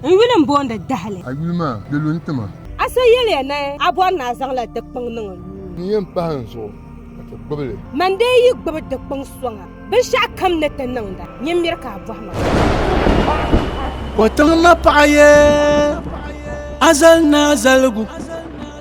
N yuli m-boondi dahili. A yuli maa, di lu n-ti ma. A so yɛliya ni a bɔri ni a zaŋla di kpiŋ niŋ n nuu. N yɛn pahi n zuɣu ka ti gbibi li. Man dee yi gbibi di kpiŋ sɔŋa, binshɛɣu kam ni ti niŋda nyin miri ka a bɔhi ma. O tiŋ ma paɣa ye azali ni azaligu.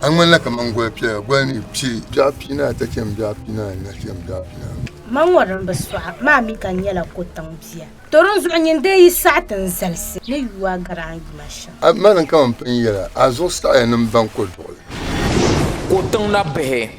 A ŋmanila kaman goli piɛla, goli ni piɛ biɛɣu piinaata chɛm biɛɣu piinaanu na chɛm biɛɣu piinaanu. Ma ŋɔ din bi sɔɣi maa mi ka nyɛla kotiŋ bia. Torin zuɣu nyin dee yi saɣi ti n zalisi ni yu a garaŋ yuma shɛm. A bi mali n kaman pinyɛla, a zuɣu saɣiya ni m baŋ koduɣili. Kotiŋ nabihi.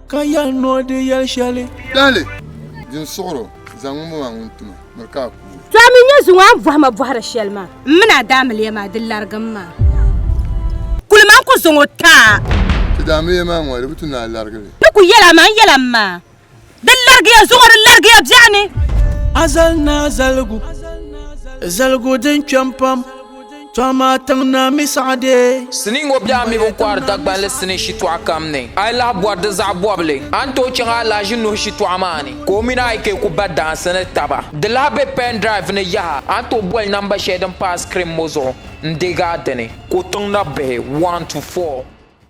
Ka yɛli ni o di yɛli shɛli. Dali, din suɣuro, zaŋ ŋun maa ŋun ti ma, miri ka a ku o. To a mi nyɛ zuŋɔ a ni bɔhi ma bɔhiri shɛli maa. M mini a daamiliya maa, di larigi m maa. Kuli ma n ku zaŋ o ti a. Ti daamiliya maa ŋɔ, di bi tu ni a larigi li. Di ku yɛli a maa, n yɛla m maa. Di larigi ya zuŋɔ, di larigi ya biɛɣuni. A zali ni a zaligu, zaligu din kpɛm pam. Tɔma tiŋ na mi saɣade. Sinii ŋɔ biɛɣu mi bini kɔhiri Dagbanli sinii shitɔɣu kam ni. A yi lahi bɔri di zaɣ bɔbili, a ni tooi chaŋ Alahaji Nuhu shitɔɣu maa ni ka o mini a yi kai ku ba daansi ni taba. Di lahi be pen drive ni yaha, a ni tooi boli namba shɛli din pa a screen ŋɔ zuɣu n-deeg a dini. Ko tiŋ nabihi one to four.